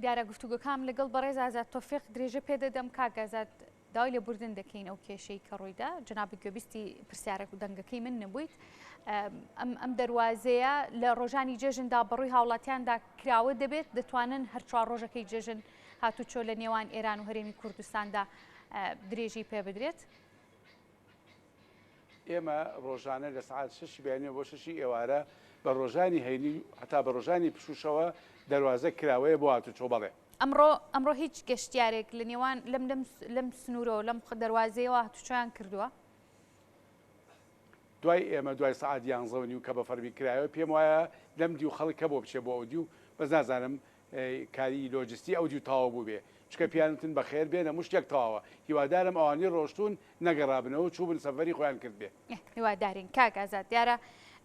دیارە گفتوگۆکانم لەگەڵ بەڕێز ئازاد تۆفیق درێژە پێدەدەم کاک ئازاد داوای لێبوردن دەکەین ئەو کێشەی کە ڕوویدا جنابی گوێبیستی پرسیارێک و دەنگەکەی من نەبوویت ئەم ئەم دەواازەیە لە ڕۆژانی جێژندا بەڕووی هاوڵاتیاندا کراوە دەبێت دەتوانن هەر چوار ڕۆژەکەی جێژن هاتوچۆ لە نێوان ئێران و هەرێمی کوردستاندا درێژی پێ بدرێت. ئێمە ڕۆژانە لە سەعات شەشی بەیانیەوە بۆ شەشی ئێوارە بە ڕۆژانی هەینی و هەتا بە ڕۆژانی پشووشەوە دەروازە کراوەیە بۆ هاتوچۆ بەڵێ. ئەمڕۆ ئەمڕۆ هیچ گەشتیارێک لە نێوان لەم لەم لەم سنوورەوە لەم دەروازەیەوە هاتوچۆیان کردووە؟ دوای ئێمە دوای سەعات یانزە و نیو کە بە فەرمی کرایەوە پێم وایە لەم دیو خەڵک هەبوو بچێ بۆ ئەو دیو بەس نازانم کاری لۆجستی ئەودیو تەواو بووبێ چونکە پێیان وتن بەخێر بێن هەموو شتێک تەواوە هیوادارم ئەوانەی ڕۆشتوون نەگەڕابنەوە و چووبن سەفەری خۆیان کردبێ. هیوادارین کاک ئازاد، دیارە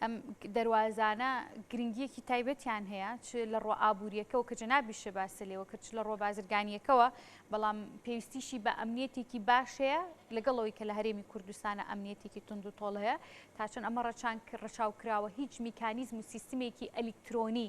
ئەم دەروازانە گرنگییەکی تایبەتیان هەیە چ لە ڕووە ئابوورییەکەوە کە جەنابیشە باست لێوە کرد چ لە ڕووە بازرگانییەکەوە بەڵام پێویستیشی بە ئەمنییەتێکی باش هەیە لەگەڵ ئەوەی کە لە هەرێمی کوردستانە ئەمنییەتێکی توند و تۆڵ هەیە تا چەند ئەمە ڕەچاو کراوە هیچ میکانیزم و سیستمێکی ئەلیکترۆنی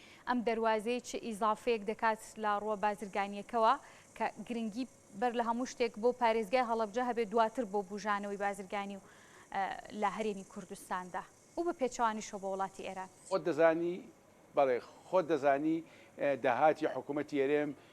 ئەم دەروازەیە چ ئیزافەیەک دەکات لە ڕووە بازرگانییەکەوە کە گرنگی بەر لە هەموو شتێک بۆ پارێزگای هەڵەبجە هەبێت دواتر بۆ بوژانەوەی بازرگانی و لە هەرێمی کوردستاندا و بە پێچەوانیشەوە بۆ وڵاتی ئێران؟ خۆت دەزانی، بەڵێ خۆت دەزانی داهاتی حکوومەتی هەرێم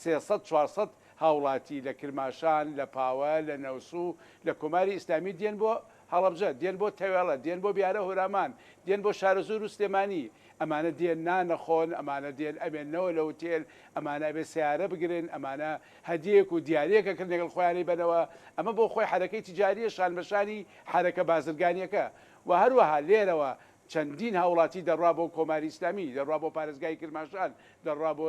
سێ سەد چوار سەد هاوڵاتی لە کرماشان، لە پاوە، لە نەوسو، لە کۆماری ئیسلامی دێن بۆ هەڵەبجە، دێن بۆ تەوێڵە، دێن بۆ بیارە هورامان، دێن بۆ شارەزوورو سلێمانی، ئەمانە دێن نان ئەخۆن، ئەمانە دێن ئەمێننەوە لە هوتێل، ئەمانە ئەبێ سەیارە بگرن، ئەمانە هەدیەیەک و دیاریەک ئەکرد لەگەڵ خۆیان ئەیبەنەوە، ئەمە بۆ خۆی حەرەکەی تیجاریە شان بە شانی حەرەکە بازرگانیەکە و هەروەها لێرەوە چەندین هاوڵاتی دەڕوا بۆ کۆماری ئیسلامی، دەڕوا بۆ پارێزگای کرماشان، دەڕوا بۆ.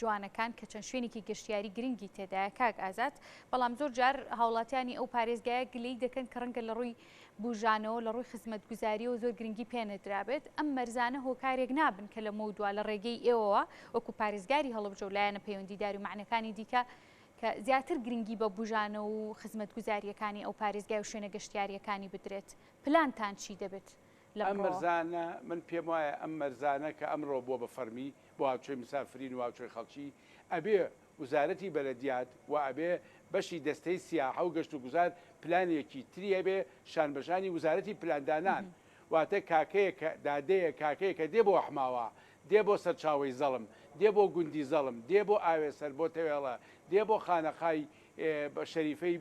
جوانەکان کە چەند شوێنێکی گەشتیاری گرنگی تێدایە کاک ئازاد، بەڵام زۆر جار هاوڵاتیانی ئەو پارێزگایە گلەی دەکەن کە ڕەنگە لە ڕووی بوژانەوە لە ڕووی خزمەتگوزاریەوە زۆر گرنگی پێ نەدرابێت ئەم مەرزانە هۆکارێک نابن کە لەمەو دوا لە ڕێگەی ئێوەوە وەکو پارێزگاری هەڵبجە و لایەنە پەیوەندیدار و مەعنەکانی دیکە کە زیاتر گرنگی بە بوژانە و خزمەتگوزاریەکانی ئەو پارێزگای و شوێنە گەشتیاریەکانی بدرێت پلانتان چی دەبێت لەم ڕۆوە؟ ئەم مەرزانە من پێم وایە ئەم مەرزانە کە ئەمڕۆ بووە بە فەرمی بۆ هاوچۆی مسافرین و هاوچۆی خەڵکی ئەبێ وزارەتی بەلەدیات و ئەبێ بەشی دەستەی سیاحە و گەشت و گوزار پلانێکی تری هەبێ شانبەشانی وزارەتی پلاندانان واتە کاکەیەک دادەیەک کاکەیەک کە دێ بۆ حماوە دێ بۆ سەرچاوەی زەڵم دێ بۆ گوندی زەڵم دێ بۆ ئاوێسەر بۆ تەوێڵە دێ بۆ خانەقای شەریفەی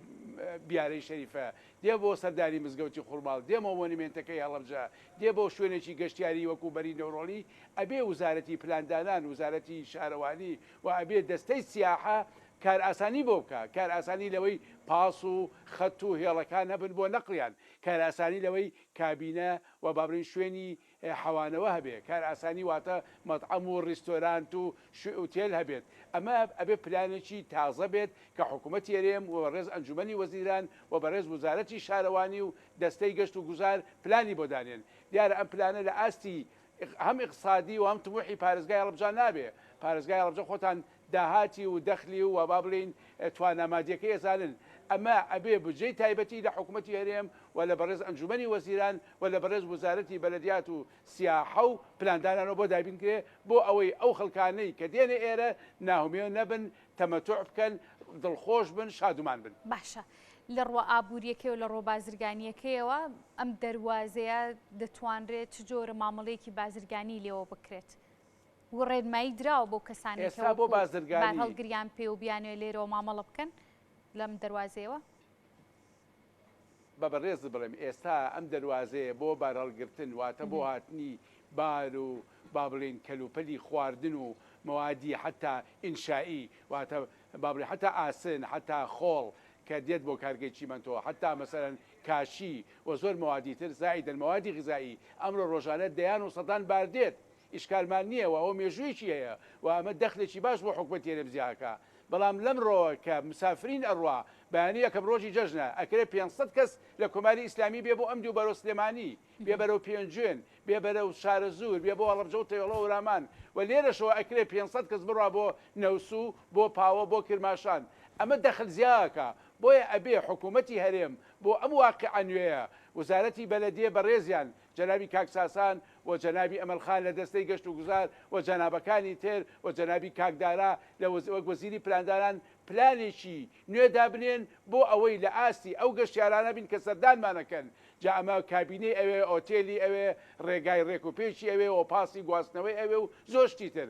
بیارەی شەریفە، دێ بۆ سەردانی مزگەوتی خورماڵ، دێ بۆ مۆنیمێنتەکەی هەڵەبجە، دێ بۆ شوێنێکی گەشتیاری وەکوو بەری نەورۆڵی، ئەبێ وزارەتی پلاندانان، وزارەتی شارەوانی و ئەبێ دەستەی سیاحە کارئاسانی بۆ بکا، کارئاسانی لەوەی پاس و خەت و هێڵەکان هەبن بۆ نەقڵیان، کارئاسانی لەوەی کابینە و با بڵێین شوێنی حەوانەوە هەبێ کارئاسانی واتە مەتعەم و ریستۆرانت و شوی ئوتێل هەبێت ئەمە ئەبێ پلانێکی تازە بێت کە حکومەتی هەرێم و بەڕێز ئەنجومەنی وەزیران و بەڕێز وزارەتی شارەوانی و دەستەی گەشت و گوزار پلانی بۆ دانێن دیارە ئەم پلانە لە ئاستی هەم ئیقسادی و هەم تموحی پارێزگای هەڵەبجە نابێ پارێزگای هەڵەبجە خۆتان داهاتی و دەخلی و با بڵێین توانا مادیەکەی ئەزانن، ئەمە ئەبێ بودجەی تایبەتی لە حکومەتی هەرێم و لە بەڕێز ئەنجومەنی وەزیران و لە بەڕێز وزارەتی بەلەدیات و سیاحە و پلاندانانەوە بۆ دابین کرێ بۆ ئەوەی ئەو خەڵکانەی کە دێنە ئێرە ناهومێو نەبن تەمەتوع بکەن دڵخۆش بن شادومان بن. باشە لە ڕوە ئابوریەکەی و لە ڕوە بازرگانیەکەیەوە ئەم دەروازەیە دەتوانرێ چ جۆرە مامەڵەیەکی بازرگانی لێوە بکرێت و ڕێنمایی دراوە بەو کەسانەی کە وەکو بارهەڵ گریان پێ و بیانوێ لێرەوە مامەڵە بکەن لەم دەروازەیەوە؟ بە بەڕێزت بڵێم ئێستا ئەم دەروازەیە بۆ بارهەڵگرتن واتە بۆ هاتنی بار و با بڵێین کەلوپەلی خواردن و مەوادی حەتا ئینشائی واتە با بڵێین حەتا ئاسن حەتا خۆڵ کە دێت بۆ کارگەی چیمەنتۆ حەتا مەسەلەن کاشی و زۆر مەوادی تر زائیدەن مەوادی غیزائی ئەمڕۆ ڕۆژانە دەیان و سەدان بار دێت ئیشکالمان نییە و ئەوە مێژوویەکی هەیە و ئەمە دەخلێکی باش بۆ حکومەتی هەرێم جیاکا، بەڵام لەمڕۆوە کە مسافرین ئەڕوا، بەیانی یەکەم ڕۆژی جەژنە، ئەکرێ پێنج سەد کەس لە کۆماری ئیسلامی بێ بۆ ئەم دوو بەرەو سلێمانی، بێ بەرەو پێنجوێن، بێ بەرەو شارەزوور، بێ بۆ هەڵەبجە و تەوێڵە و رامان و لێرەشەوە ئەکرێ پێنج سەد کەس بڕوا بۆ نەوسوو، بۆ پاوە، بۆ کرماشان، ئەمە دەخل جیاکا، بۆیە ئەبێ حکومەتی هەرێم بۆ ئەم واقعە نوێیە، وزارەتی بەلەدێ بەڕێزیان، جەنابی کاک ساسان و جەنابی ئەمەل خان لە دەستەی گەشت و گوزار و جەنابەکانی تر و جەنابی کاک دارا لە وەز وەک وەزیری پلاندانان پلانێکی نوێ دابنێن بۆ ئەوەی لە ئاستی ئەو گەشتیارانە بین کە سەردانمان ئەکەن جا ئەمە کابینەی ئەوێ ئۆتێلی ئەوێ ڕێگای ڕێک و پێکی ئەوێ و پاسی گواستنەوەی ئەوێ و زۆر شتی تر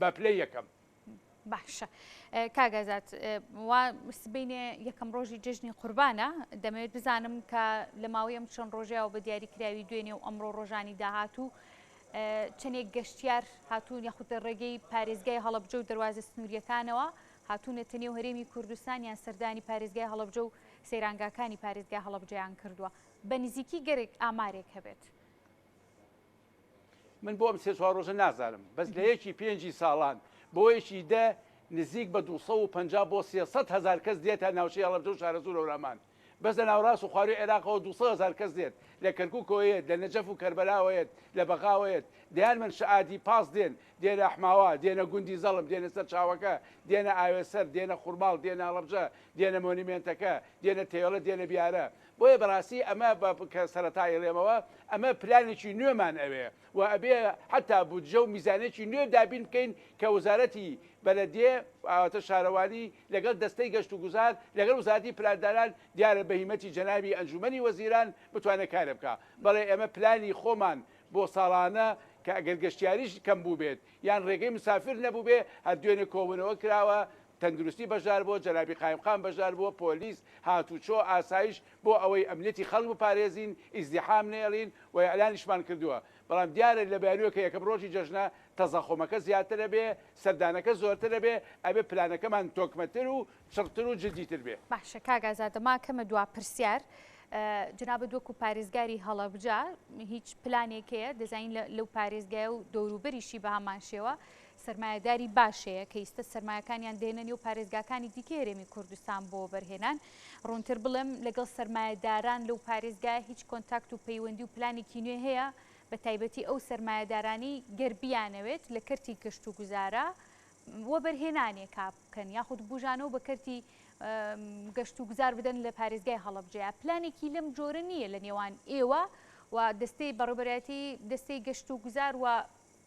بە پلەی یەکەم. باشە کاک ئازاد وا سبەینێ یەکەم ڕۆژی جژنی قوربانە دەمەوێت بزانم کە لە ماوەی ئەم چەند ڕۆژەیەوە بە دیاریکراوی دوێنێ و ئەمڕۆ ڕۆژانی داهات و چەندێک گەشتیار هاتوون یاخود لە ڕێگەی پارێزگای هەڵبجە و دەواازە سنووریەکانەوە هاتوونەتە نێو هەرێمی کوردستان یان سەردانی پارێزگای هەڵبجە و سەیرانگاکانی پارێزگای هەڵبجەیان کردووە بە نزیکی گەرێک ئامارێک هەبێت. من بۆ ئەم سێ چوار ڕۆژە نازانم بەس لە یەکی پێنجی ساڵان بۆ یەکی دە نزیک بە 250 بۆ 300 هزار کەس دێت تا ناوچەی هەڵەبجە و شارەزوور هەورامان بەس لە ناوەڕاست و خواروی عێراقەوە 200 هزار کەس دێت لە کەرکوکەوە یەت لە نەجەف و کەربەلاوە یەت لە بەغاوە یەت دەیان من شەعادی پاس دێن دێنە ئەحماوا دێنە گوندی زەڵم دێنە سەر چاوەکە دێنە ئاوێسەر دێنە خورماڵ دێنە هەڵەبجە دێنە مۆنیمێنتەکە دێنە تەیۆلە دێنە بیارە بۆیە بەڕاستی ئەمە بە کە سەرەتا ئەیڵێمەوە ئەمە پلانێکی نوێمان ئەوێ و ئەبێ حەتا بودجە و میزانیەکی نوێ دابین بکەین کە وەزارەتی بەلەدیە ئەواتە شارەوانی لەگەڵ دەستەی گەشت و گوزار لەگەڵ وزارەتی پلاندانان دیارە بە هیمەتی جەنابی ئەنجومەنی وەزیران بتوانێ کارێ بکا بەڵێ ئێمە پلانی خۆمان بۆ ساڵانە کە ئەگەر گەشتیاریش کەم بووبێت یان ڕێگەی مسافر نەبووبێ هەر دوێنێ کۆبوونەوە کراوە تەندروستی بەشدار بووە، جەنابی قایمقام بەشدار بووە، پۆلیس، هاتووچۆ، ئاسایش، بۆ ئەوەی ئەمنیەتی خەڵک بپارێزین، ئیزدیحام نەیەڵین و ئیعلانیشمان کردووە، بەڵام دیارە لە بیانووێک کە یەکەم ڕۆژی جەژنە، تەزەخۆمەکە زیاتر ئەبێ، سەردانەکە زۆرتر ئەبێ، ئەبێ پلانەکەمان تۆکمەتر و چڕتر و جدیتر بێ. باشە کاک ئازاد، ماکەمە دوا پرسیار، جەنابت وەکو پارێزگاری هەڵەبجە هیچ پلانێک هەیە، دەزانین لەو پارێزگایە و دەوروبەریشی بەهەمانشێوە، سەرمایەداری باش هەیە کە ئیستە سەرمایەکانیان دێنە نێو پارێزگاکانی دیکەی هەرێمی کوردستان بۆ وەبەرهێنان، ڕوونتر بڵێم لەگەڵ سەرمایەداران لەو پارێزگایە هیچ کۆنتاکت و پەیوەندی و پلانێکی نوێ هەیە بە تایبەتی ئەو سەرمایەدارانەی گەر بیانەوێت لە کەرتی گەشتوگوزارا وەبەرهێنانێکا بکەن یاخود بوژانەوە بە کەرتی گەشتوگوزار بدەن لە پارێزگای هەڵەبجەیە پلانێکی لەم جۆرە نییە لە نێوان ئێوە و دەستەی بەڕێبەرایەتی دەستەی گەشتوگوزار و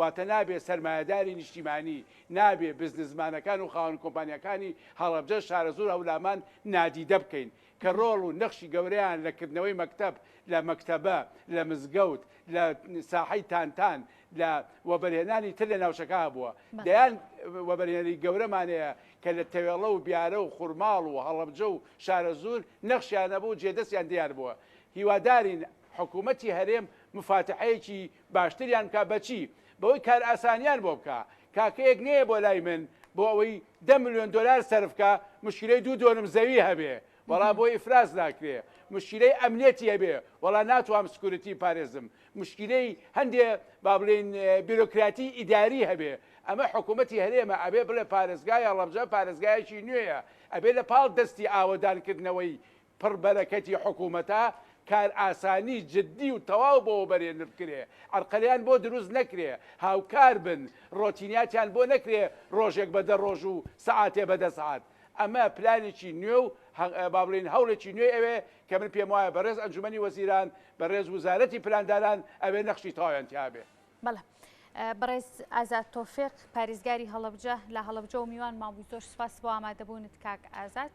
واتە نابێ سەرمایەداری نیشتیمانی، نابێ بزنسمانەکان و خاوەن کۆمپانیاکانی هەڵەبجە، شارەزوور، هەولامان نادیدە بکەین کە ڕۆڵ و نەخشی گەورەیان لە کردنەوەی مەکتەب لە مەکتەبە، لە مزگەوت لە ساحەی تانتان لە وەبەرهێنانی تر لە ناوچەکە هەبووە. دەیان وەبەرهێنەری گەورەمان هەیە کە لە تەوێڵە و بیارە و خورماڵ و هەڵەبجە و شارەزوور نەخشیان هەبوو و جێدەستیان دیار بووە. هیوادارین حکوومەتی هەرێم مفاتحەیەکی باشتریان بکا بەچی؟ بەوەی کارئاسانیان بۆ بکا. کاکەیەک نەیە بۆ لای من بۆ ئەوەی دە ملیۆن دۆلار سەرف کا مشکیلەی دوو دۆنم زەوی هەبێ وەڵا بۆی ئیفراز ناکرێ. مشکیلەی ئەمنیەتی هەبێ وەڵا ناتوام سکوریتی بپارێزم. مشکیلەی هەندێ با بڵێین بیرۆکراتی ئیداری هەبێ. ئەمە حکومەتی هەرێمە ئەبێ بڵێ پارێزگای هەڵەبجە پارێزگایەکی نوێیە ئەبێ لە پاڵ دەستی ئاوەدان کردنەوەی پڕ بەرەکەتی حکومەتە کار ئاسانی جدی و تەواو بۆ بەرێنر بکرێ عەرقەلیان بۆ دروست نەکرێ هاوکار بن ڕۆتیناتیان بۆ نەکرێ ڕۆژێک بە دە ڕۆژ و سەعاتێ بە دە سەعات ئەمە پلانێکی نوێ و با بڵێین هەوڵێکی نوێ ئەوێ کە من پێم وایە بەڕێز ئەنجومەنی وەزیران بەڕێز وزارەتی پلانداران ئەوێ نەخشی تەواویان تیابێ. بەڵێ بەڕێز ئازاد تۆفێق پاریزگاری هەڵەبجە لە هەڵەبجە و میوانمان بووی زۆر سوپاس بۆ ئامادەبوونت کاک ئازاد.